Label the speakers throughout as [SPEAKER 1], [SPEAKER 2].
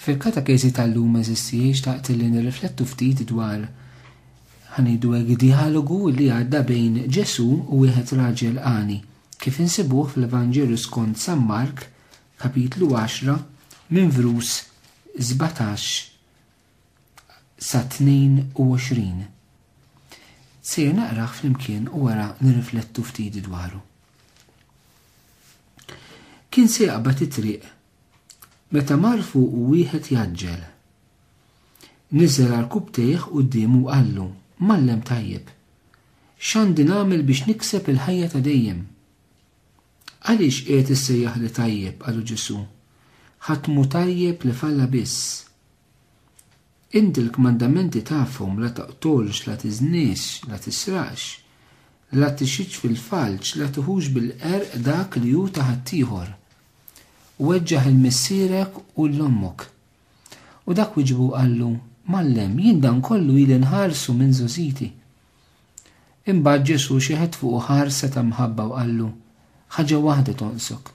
[SPEAKER 1] Fil-katakezi tal-lum eżissijiet xtaqt li nirriflettu ftit dwar ħa ngħidu hekk djalogu li għadda bejn Ġesù u wieħed raġel għani, kif insibuh fl-Evanġelju skont San Mark, kapitlu 10, minn vrus 17 sa 22. Sejjer naqrah flimkien u wara nirriflettu ftit dwaru. Kien se jaqbad it-triq Meta mar fuqu wieħed jgħaġġel. Niżel għal kubtejh quddiemu u qallu, Mgħallem tajjeb, x'għandi nagħmel biex nikseb il-ħajja ta' dejjem? Għaliex qiegħed issejjaħli tajjeb, qalu Ġesù. Ħadd mhu tajjeb li f'Alla biss. Int il-kmandamenti tafhom, la toqtolx, la tiżnix, la tisraqx, la tixhidx fil-falz, la tiħux bil-qerq dak li hu ta' ħaddieħor. Weġġaħ 'il missierek u 'l ommok. U dak wieġbu u qallu, Mgħallem, jien dan kollu ili nħarsu minn żgħożiti. Imbagħad Ġesù xeħet fuqu ħarsa ta' mħabba u qallu, Ħaġa waħda tonqsok.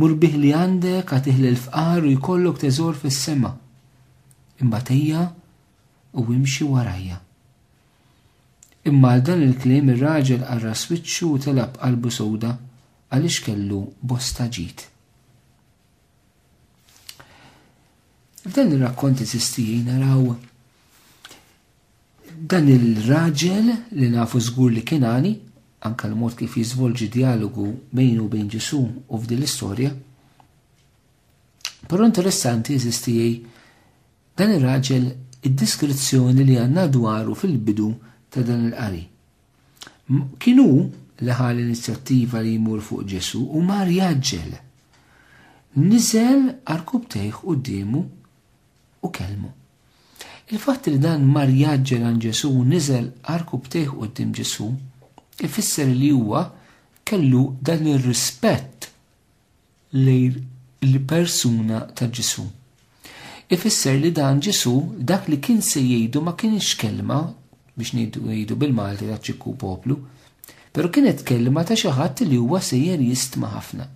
[SPEAKER 1] Mur bih li għandek agħtih lill-fqar u jkollok teżor fis-sema. Imbagħad ejja u imxi warajja. Imma għal dan il-kliem ir-raġel qarras wiċċu u telab qalbu sewda għaliex kellu bosta ġid. F'dan ir-rakkont eżistijin naraw Dan ir-raġel li nafu żgur li kien għani, anke l-mod kif jiżvolġi djalogu bejnu u bejn Ġesù u f'din l-istorja. Però interessanti eżisti dan ir-raġel id-diskrizzjoni li għandna dwaru fil-bidu ta' dan il-qari. Kienu li ħal inizjattiva li jmur fuq Ġesu u mar jaġġel. Nizel arkub tejħ u dimu u kellmu. Il-fatt li dan mar jgħaġġel għand Ġesù u niżel arku btejh quddiem Ġesù ifisser li huwa kellu dan ir-rispett lejn il-persuna ta' Ġesù. Ifisser li dan Ġesù dak li kien se jgħidu ma kienx kelma biex ngħidu bil-Malti ta' ċikku poplu, però kienet kelma ta' xi ħadd li huwa sejjer jistma' ħafna.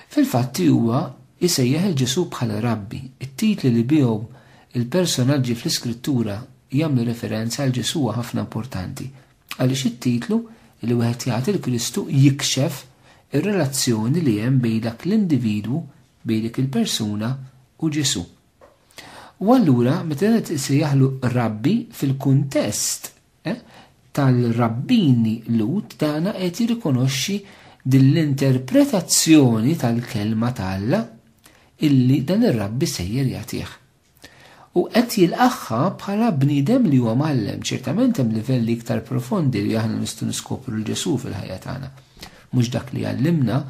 [SPEAKER 1] Fil-fatti huwa jsejjaħ il Ġesù bħala Rabbi, it-titli li bihom il-personaġġi fl-Iskrittura jagħmlu referenza għal Ġesù huwa ħafna importanti, għaliex it-titlu li wieħed jagħti l-Kristu jikxef ir-relazzjoni li hemm bejn dak l-individwu, bejn dik il-persuna u Ġesù. U allura meta wieħed isejjaħlu rabbi fil-kuntest eh, tal-rabbini Lut dana qed jirrikonoxxi din l-interpretazzjoni tal-kelma tal-la illi dan ir-rabbi sejjer jagħtih. U qed jilqaħħa bħala bniedem li huwa mgħallem, ċertament hemm livelli iktar profondi li aħna nistgħu niskopru l Ġesu fil-ħajja tagħna. Mhux dak li għallimna,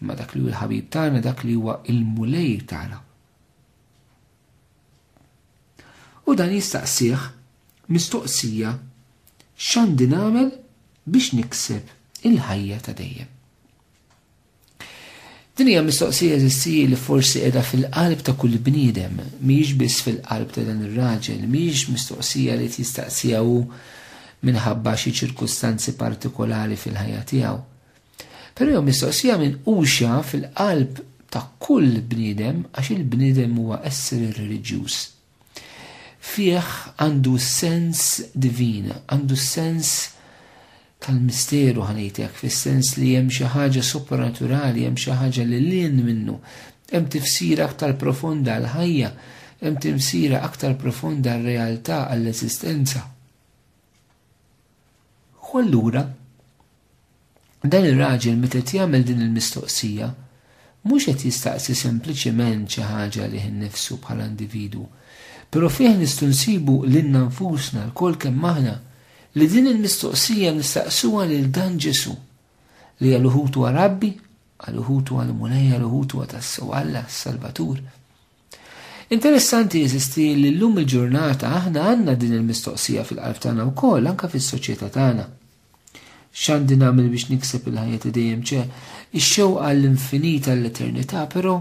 [SPEAKER 1] imma dak li hu l-ħabib tagħna, dak li huwa il-mulej tagħna. U dan jistaqsih mistoqsija x'għandi nagħmel biex nikseb il-ħajja ta' dejjem. Din hija mistoqsija eżissi li forsi qiegħda fil-qalb ta' kull bniedem, mhijiex biss fil-qalb ta' dan ir-raġel, mhijiex mistoqsija li tistaqsija hu minħabba xi ċirkustanzi partikolari fil-ħajja tiegħu. Però jew mistoqsija minn uxja fil-qalb ta' kull bniedem għax il-bniedem huwa esseri reliġjuż. Fih għandu s-sens divin, għandu s-sens tal-misteru ħanejtek, fis-sens li hemm xi ħaġa supernaturali, hemm xi ħaġa li lien minnu, hemm tifsira aktar profonda għal ħajja, hemm tifsira aktar profonda għal realtà għall-eżistenza. U allura dan ir-raġel meta qed jagħmel din il-mistoqsija mhux qed jistaqsi sempliċement xi ħaġa li nnifsu bħala individu, però fih nistgħu nsibu lilna nfusna lkoll kemm aħna li din il-mistoqsija nistaqsuha lil dan Ġesu li għal uħutu għal Rabbi, għal uħutu għal Mulej, għal uħutu għal tassew Alla, Salvatur. Interessanti jeżisti li llum il-ġurnata aħna għandna din il-mistoqsija fil-qalb tagħna wkoll anke fis-soċjetà tagħna. X'għandi nagħmel biex nikseb il-ħajja ta' dejjem ċe ix-xewqa għall-infinita l-eternità, però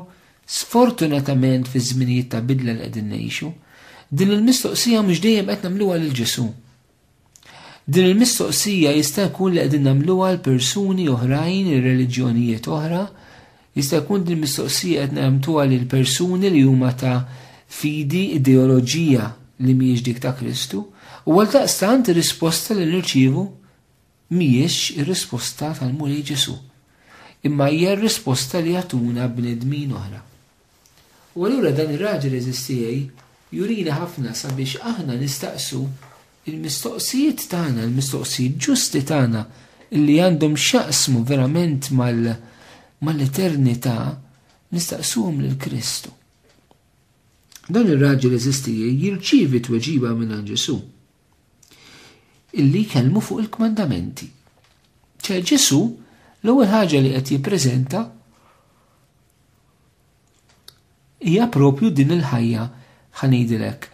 [SPEAKER 1] sfortunatament fi żminijiet ta' bidla li qegħdin ngħixu, din il-mistoqsija mhux dejjem qed nagħmluha lil Ġesù. Din il-mistoqsija jista' jkun li qegħdin nagħmluha għal persuni oħrajn, ir-reliġjonijiet oħra, jista' jkun din mistoqsija qed nagħmtuha lil persuni li huma ta' fidi ideoloġija li mhijiex dik ta' Kristu, u għal daqstant ir-risposta li nirċievu mhijiex ir-risposta tal-Mulej Ġesu, imma hija r-risposta li jagħtuna bnedmin oħra. U allura dan ir-raġel għeżież tiegħi jurina ħafna sabiex aħna nistaqsu l-mistoqsijiet tagħna, l-mistoqsijiet ġusti tagħna li għandhom x'jaqsmu verament mal mal-eternità nistaqsuhom lil Kristu. Dan ir-raġel eżisti jirċievi tweġiba minn Ġesu illi jkellmu fuq il-kmandamenti. ċe Ġesu l-ewwel ħaġa li qed jippreżenta Hija propju din il-ħajja ħanidilek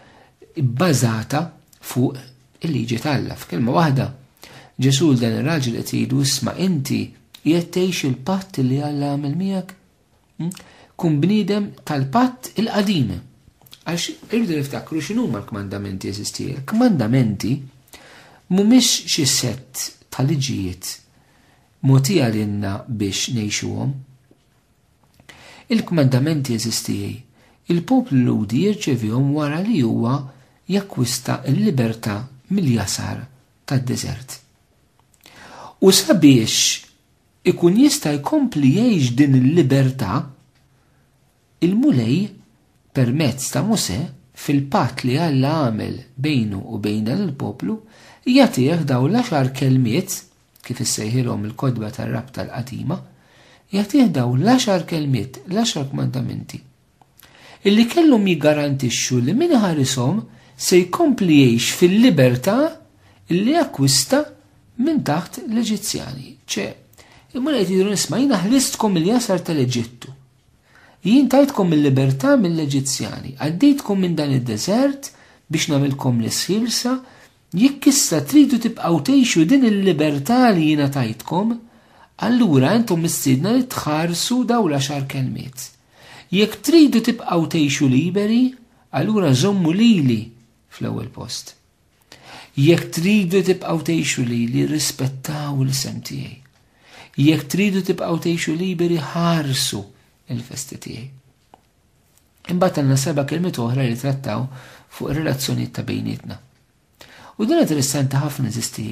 [SPEAKER 1] bbażata fuq il-liġi t'Alla. F'kelma waħda, Ġesu' l dan ir-raġel qed jgħidu isma' inti qiegħed tgħix il-patt li Alla għamel miegħek? Hm? Kun bniedem tal-patt il-qadim. Għax irridu niftakru x'inhuma l-kmandamenti eżisti. Il-kmandamenti mhumiex xi set ta' liġijiet mogħtija lilna biex ngħixuhom. Il-kmandamenti eżistijij, il-poplu Lhudi jirċevihom wara li huwa jakkwista l-libertà mill-jasar tad-deżert. U sabiex ikun jista' jkompli jgħix din il-libertà, il-Mulej, permezz ta' Mosè, fil-patt li Alla għamel bejnu u bejn dan il-poplu, jagħtih dawn l-għaxar kelmiet, kif issejħilhom il-kotba tar-rabta l-qadima, jagħtih dawn l-għaxar kelmiet, l-għaxar kmandamenti, illi kellhom jiggarantixxu li min iħarishom se jkompli jgħix fil-libertà illi akkwista minn taħt l-Eġizzjani. ċe, imur qed jidhru nisma' jiena ħlistkom il-jasar tal-Eġittu. Jien tajtkom il-libertà mill-Eġizzjani, għaddejtkom minn dan id-deżert biex nagħmilkom l-isħilsa Jekk issa tridu tibqgħu tgħixu din il-libertà li jiena tajtkom, allura intom mistiedna li tħarsu dawn l-għaxar kelmiet. Jekk tridu tibqgħu tgħixu liberi, allura żommu lili fl-ewwel post. Jekk tridu tibqgħu tgħixu lili, rispettaw l-isem tiegħi. Jekk tridu tibqgħu tgħixu liberi, ħarsu il-festi tiegħi. Imbagħad għandna seba' kelmiet oħra li jitrattaw fuq ir-relazzjonijiet ta' bejnietna. U din interessanti ħafna eżisti.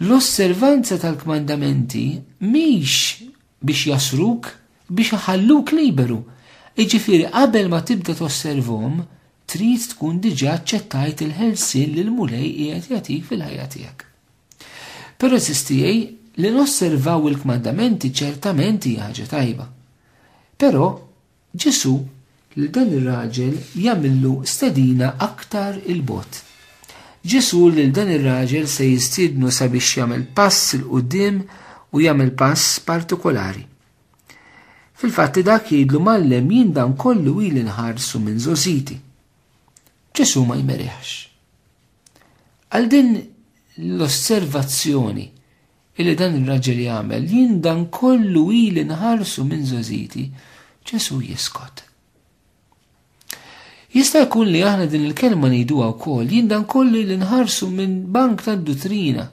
[SPEAKER 1] L-osservanza tal-kmandamenti mhix biex jasruk, biex iħalluk liberu. Iġifieri qabel ma tibda tosservom, trid tkun diġà aċċettajt il-ħelsien li l-Mulej qiegħed jagħtik fil-ħajja tiegħek. Però eżisti li nosservaw il-kmandamenti ċertament hija ħaġa tajba. Però Ġesù lil dan ir-raġel jagħmillu stedina aktar 'il bogħod. Ġesù lil dan ir-raġel se jistiednu sabiex jagħmel pass 'il quddiem u jagħmel pass partikolari. Fil-fatt dak jgħidlu mallem jien dan kollu ili nħarsu minn żożiti. Ġesù ma jmerihx. Għal din l-osservazzjoni Illi dan ir-raġel jagħmel, jien dan kollu ili nħarsu minn żożiti, Ġesù jiskot. Jista' jkun li aħna din il-kelma ngħiduha wkoll, jien dan kollu li nħarsu minn bank tad-duttrina.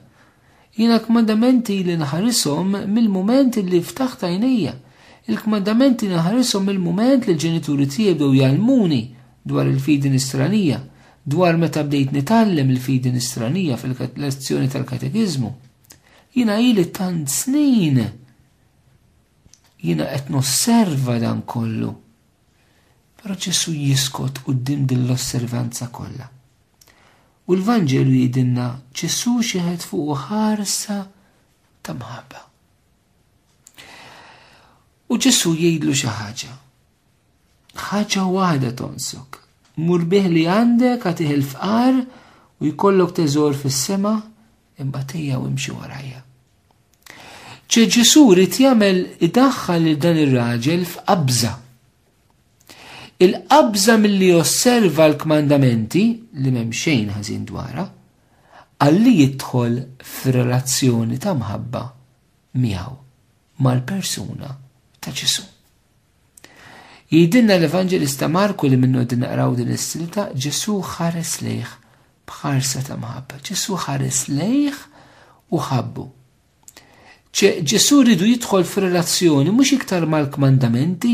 [SPEAKER 1] Jiena kmandamenti li nħarishom mill-mument li ftaħt għajnejja. Il-kmandamenti nħarishom mill-mument li l-ġenituri tiegħi bdew jgħallmuni dwar il-fidi nisranija, dwar meta bdejt nitgħallem il-fidi nisranija fil-lezzjoni tal-katekiżmu. Jiena ili tant snin jiena qed nosserva dan kollu. Però Ġesu jiskot quddiem din l-osservanza kollha. U l-Vanġelu jidinna Ġesu xieħed fuq ħarsa ta' mħabba. U Ġesu jgħidlu xi ħaġa. ħaġa waħda tonsok. Mur bih li għandek għatih il-fqar u jkollok teżor fis-sema imma tejja u imxi warajja. ċe Ġesu rrit jagħmel idaħħal lil dan ir-raġel f'qabża. Il-qabża milli osserva l-kmandamenti li m'hemm xejn ħażin dwarha, għalli jidħol f'relazzjoni ta' mħabba miegħu mal-persuna ta' Ġesu. Jgħidilna l-Evanġelista Marku li minnu din naqraw din is-silta Ġesu ħares lejh bħarsa ta' mħabba. Ġesu ħares lejh u ħabbu. Ġesu rridu jidħol f'relazzjoni mhux iktar mal-kmandamenti,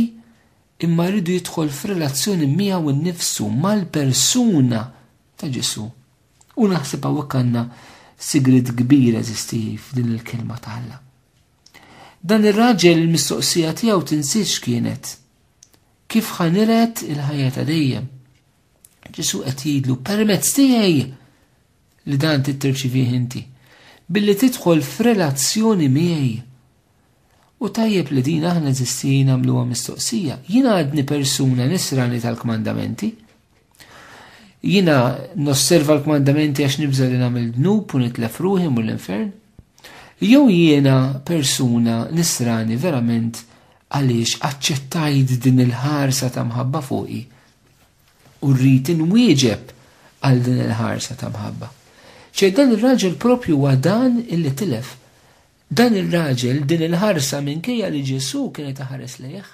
[SPEAKER 1] imma rridu jidħol f'relazzjoni miegħu nnifsu mal-persuna ta' Ġesu. U naħseb hawnhekk għandna sigrid kbira eżisti f'din il-kelma ta' Alla. Dan ir-raġel il-mistoqsija tiegħu tinsiex kienet kif ħaniret il-ħajja ta' dejjem. Ġesu qed jgħidlu permezz tiegħi li dan titterċivih inti billi tidħol f'relazzjoni miegħi. U tajjeb li din aħna eżistijin għamluha mistoqsija, jien għadni persuna nisrani tal-kmandamenti, Jina nosserva l-kmandamenti għax nibża li nagħmel dnub u nitlef ruħi mur l-infern. Jew jiena persuna nisrani verament għaliex aċċettajt din il-ħarsa ta' mħabba fuqi u rrid inwieġeb għal din il-ħarsa ta' mħabba. ċe dan il-raġel propju huwa dan illi tilef. Dan il-raġel din il-ħarsa minkejja li Ġesu kienet taħares lejh.